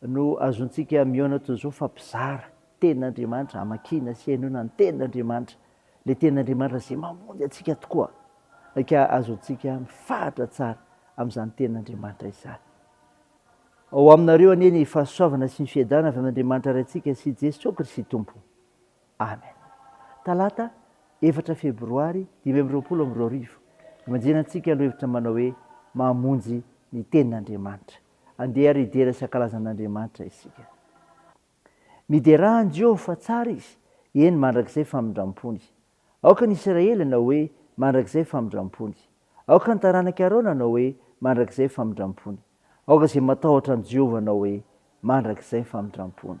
no azontsika mihaona toy izao fa mpizara tenin'Andriamanitra, hamakiana sy henoina ny tenin'Andriamanitra, ilay tenin'Andriamanitra izay mamonjy antsika tokoa, ka azontsika mifahatra tsara amin'izany tenin'Andriamanitra izany. Ao aminareo anie ny fahasoavana sy ny fiadanana avy amin'Andriamanitra Ray antsika sy Jesoa Kristy Tompo. Amen. Talata efatra febroary dimy amby roapolo amby roa arivo, imanjenantsika lohahevitra manao hoe Mamonjy ny tenin'Andriamanitra. Andeha ary hidera Sakalazan'Andriamanitra isika. Miderà an'i Jeho fa tsara izy, eny mandrakizay famindram-pony. Aoka ny Isiraely hanao hoe, Mandrakizay famindram-pony. Aoka ny taranak'i Arona hanao hoe, Mandrakizay famindram-pony. Aoka izay matahotra an'i Jehovah hanao hoe, Mandrakizay famindram-pony.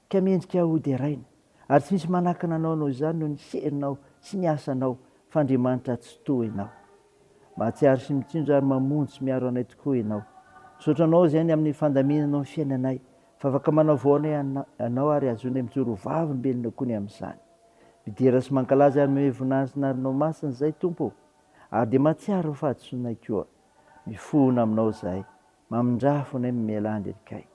Ka mendrika ho deraina. Ary tsy misy manakana anao noho izany noho ny herinao sy ny asanao fa Andriamanitra tsy toa ianao. Mahatsiaro sy mitsinjo ary mamonjy sy miaro anay tokoa ianao. Misaotra anao izay ny amin'ny fandaminanao ny fiainanay fa afaka manao voanay anao ary azonay mijoro ho vavolombelonao koa ny amin'izany. Midera sy mankalaza ary mihomehy voninahitra ny anaranao masina izahay Tompo o! Ary dia mahatsiaro ny fahadisoanay koa. Mifona aminao izahay. Mamindrà fonay mamelà an-dry Kay.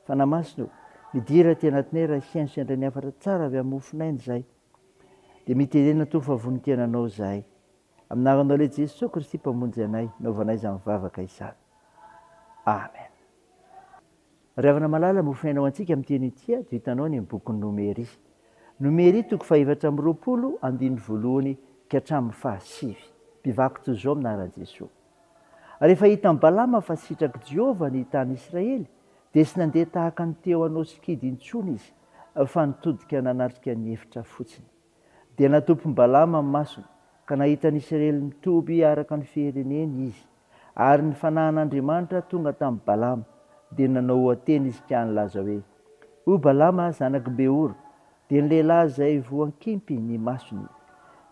Fanahy Masina o, midira aty anatinay raha hihaino sendra ny hafatra tsara avy amin'ny mofon'aina izahay. Dia miterena toa fa vonon-kena Anao izahay. Amin'Aranao Lehibe Jesoa Kristy Mpamonjy anay, naovanay izany vavaka izany. Amen. Ry havana malala, mofon'aina ho antsika amin'ity anio ity ato hitanao ny bokin'i Nomery. Nomery toko fahefatra amby roapolo, andininy voalohany ka hatramin'ny fahasivy. Mpivakitsoa amin'Aran'i Jesoa. Rehefa hitan'i Balama fa sitrak'i Jehovah ny tanin'Israely, dia tsy nandeha tahaka ny teo anao sikidy intsony izy, fa nitodika nanatrika ny efitra fotsiny. Dia natompin'i Balama ny masony, ka nahita ny Isiraely mitoby araka ny fireneny izy. Ary ny fanahin'Andriamanitra tonga tamin'i Balama, dia nanao oha-teny izy ka nilaza hoe, O Balama zanak'i Beora, Dia ny lehilahy izay voan-kimpy ny masony,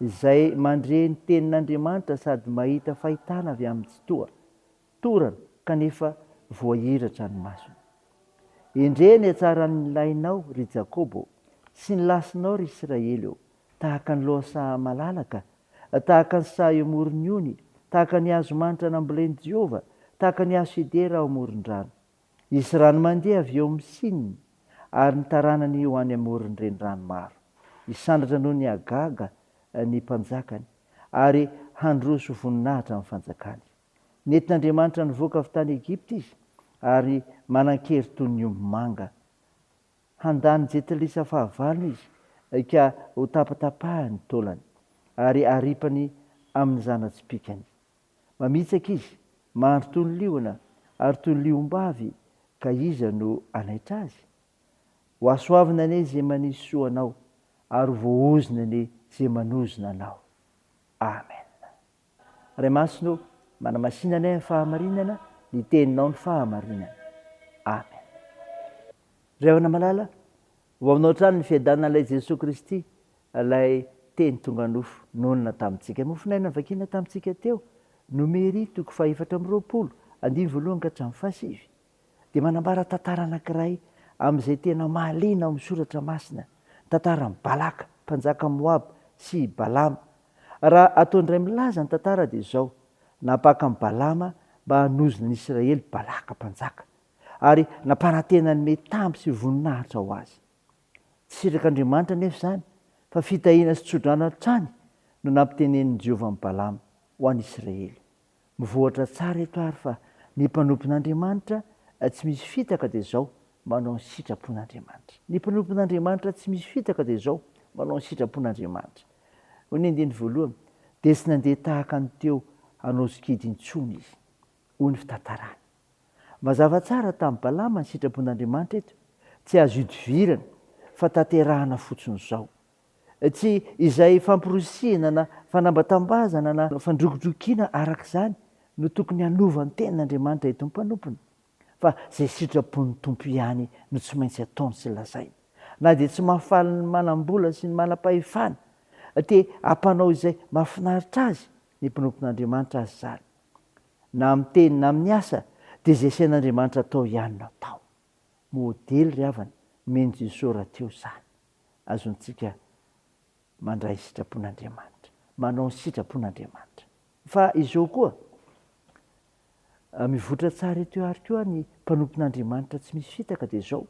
izay mandre ny Tenin'Andriamanitra sady mahita fahitana avy amin'ny Tsitoha, torana, kanefa voahiratra ny masony. Endrey ny hatsaran'ny lahinao, ry Jakoba ô, sy ny lasinao, ry Israely ô, tahaka ny loha saha malalaka, tahaka ny saha eo amoron'ny ony, tahaka ny hazo manitra nambolen'i Jehovah, tahaka ny hazo sedera ao amoron-drano. Hisy rano mandeha avy eo amin'ny Sina ary ny taranany ho any amoron'ny renirano maro. Hisandratra noho ny hagaga ny mpanjakany ary handroso ho voninahitra amin'ny fanjakany. Nentin'Andriamanitra nivoaka avy tany Egypta izy ary manan-kery toy ny omby manga. Handà ny jetilisa fahavalony izy ka hotapatapahany ny taolany ary haripany amin'ny zana-tsipìkany. Mamitsaka izy, mahandro toy ny liona ary toy ny liombavy, ka iza no hanaitra azy? Hohasoavina anie izay manisy soa anao, ary ho voaozona anie izay manozona anao. Amen. Ray Masina ô, manamasina anay amin'ny fahamarinana, ny Teninao no fahamarinana. Amen. Ry Havana malala, Ho aminao hatrany ny fiadanana ilay Jesoa Kristy, ilay Teny tonga nofo, nonina tamintsika. Mofon'aina novakina tamintsika teo, Nomery toko fahefatra amby roapolo, andininy voalohany ka hatramin'ny fahasivy, dia manambara tantara anankiray amin'izay tena mahaliana ao amin'ny Soratra Masina, ny tantaran'i Balaka, mpanjakan'i Moaba, sy i Balama. Raha atao indray milaza ny tantara dia izao, Nampaka an'i Balama mba hanozo ny Israely Balaka, mpanjaka, ary nampanantena ny mety tamby sy voninahitra ho azy. Tsy sitrak'Andriamanitra anefa izany, fa fitahiana sy tsodrano hatrany no nampitenenin'i Jehovah an'i Balama ho an'ny Isiraely. Mivoatra tsara eto àry fa ny mpanompon'Andriamanitra tsy misy fitaka dia izao manao ny sitrapon'Andriamanitra. Ny mpanompon'Andriamanitra tsy misy fitaka dia izao manao ny sitrapon'Andriamanitra. Hoy ny andininy voalohany, Dia tsy nandeha tahaka ny teo hanao sikidy intsony izy. Hoy ny fitantaràny. Mazava tsara tamin'i Balama ny sitrapon'Andriamanitra eto, tsy azo idivirana fa tanterahana fotsiny izao. Tsy izay famporisihina na fanambatambazana na fandrokidrokiana araka izany no tokony hanova ny tenin'Andriamanitra eto ny mpanompony, fa izay sitrapon'ny Tompo ihany no tsy maintsy ataony sy lazainy. Na dia tsy mahafaly ny manam-bola sy ny manam-pahefana, te hampanao izay mahafinaritra azy ny mpanompon'Andriamanitra aza izany. Na amin'ny teny na amin'ny asa dia izay asain'Andriamanitra atao ihany no atao. Modely ry havana nomen'i Jesosy rahateo izany. Azontsika mandray sitrapon'Andriamanitra, manao ny sitrapon'Andriamanitra. Fa izao koa, mivoitra tsara eto ary koa ny mpanompon'Andriamanitra tsy misy fitaka dia izao,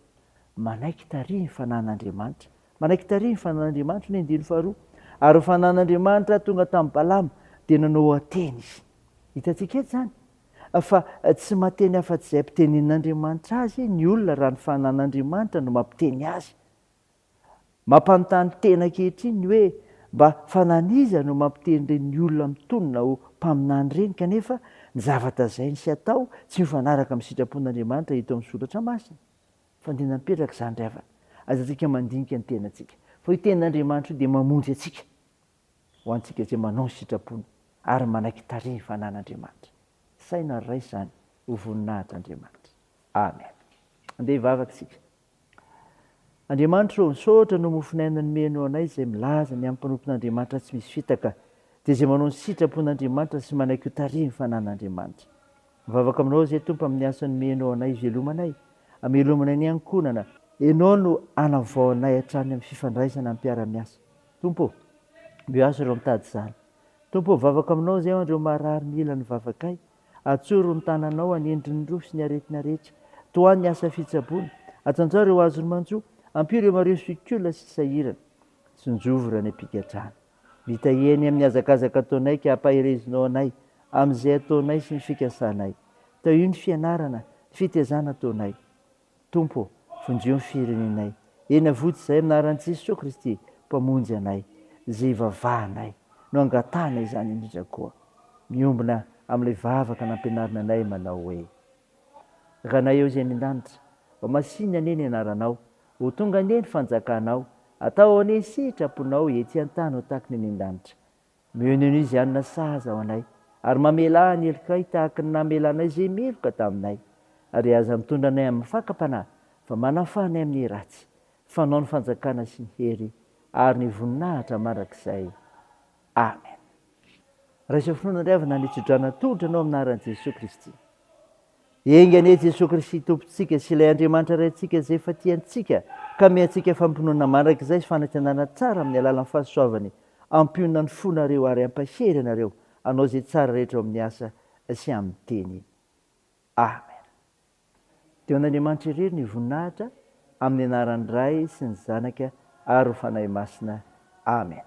manaiky tarihin'ny fanan'Andriamanitra. Manaiky tarihin'ny fanan'Andriamanitra ny andiany faharoa. Ary ny fanan'Andriamanitra tonga tamin'i Balama dia nanao hateny izy. Hitantsika eto izany fa tsy mahateny afa-tsy izay ampitenenin'Andriamanitra azy ny olona raha ny fananan'Andriamanitra no mampiteny azy. Mampanontany tena ankehitriny ny hoe mba fanan'iza no mampiteny ireny olona mitonona ho mpaminany ireny kanefa ny zavatra zainy sy atao tsy mifanaraka amin'ny sitrapon'Andriamanitra hita ao amin'ny soratra masina? Fandinihana mipetraka izany ry havana. Aza antsika mandinika ny tenantsika fa io tenin'Andriamanitra io dia mamonjy antsika. ho antsika izay manao ny sitrapony ary manaiky tarihy ny fanan'Andriamanitra. Saina ary raisy izany ho voninahitr'Andriamanitra. Amen. Andeha hivavaka isika. Andriamanitra ô, misaotra noho mofon'aina nomenao anay izay milaza ny amin'ny mpanompon'Andriamanitra tsy misy fitaka, dia izay manao ny sitrapon'Andriamanitra sy manaiky ho tarihy ny fanan'Andriamanitra. Mivavaka aminao izay Tompo amin'ny asa nomenao anay hivelomanay, hamelomanay ny ankonana. Ianao no hanavao anay hatrany amin'ny fifandraisana amim-piara-miasa. Tompo ô! Meo azy ireo mitady izany. Tompo ô! Vavaka Aminao izay ao ireo marary mila ny vavakay. Atsoro ny tananao hanendry ny rohy sy ny aretina rehetra. Tohano ny asa fitsaboana. Ajanjao ireo azon'ny manjo. Ampio ireo mareho sy kiola sy sahirana. Tsinjovy ireo any am-pigadrana. Mitahia ny amin'ny hazakazaka ataonay ka ampaherezinao anay amin'izay ataonay sy ny fikasanay. Tahio ny fianarana, ny fitezana ataonay. Tompo ô, vonjio ny firenenay. Eny Avotsy izay amin'ny anaran'i Jesoa Kristy, Mpamonjy anay, izay ivavahanay no angatahana izany indrindra koa. Miombona amin'ilay vavaka nampianarina anay manao hoe, Ranay ao izay any an-danitra, ho masìny anie ny anaranao, ho tonga anie ny fanjakanao, atao anie ny sitraponao ety an-tany ho taky ny any an-danitra. Mion'ino izy hanina sahaza ho anay, ary mamelà ny helokay tahaka ny namelanay izay meloka taminay. Ary aza mitondra anay amin'ny fakam-panahy, fa manafaha anay amin'ny ratsy. Fanao ny fanjakana sy ny hery ary ny voninahitra mandrakizay. Amen. Raiso finoana ry havana ny hitsidrana tolotra anao amin'ny anaran'i Jesoa Kristy. Enga anie Jesoa Kristy Tompontsika sy ilay Andriamanitra Raintsika izay efa tia antsika ka amiha antsika fampinoana mandrakizay sy fanantenana tsara amin'ny alalan'ny fahasoavany ampionona ny fonareo ary ampahery anareo hanao izay tsara rehetra eo amin'ny asa sy amin'ny teny. Amen. Dia ho an'Andriamanitra irery ny voninahitra amin'ny anaran'ny Ray sy ny Zanaka ary ny Fanahy Masina. Amen.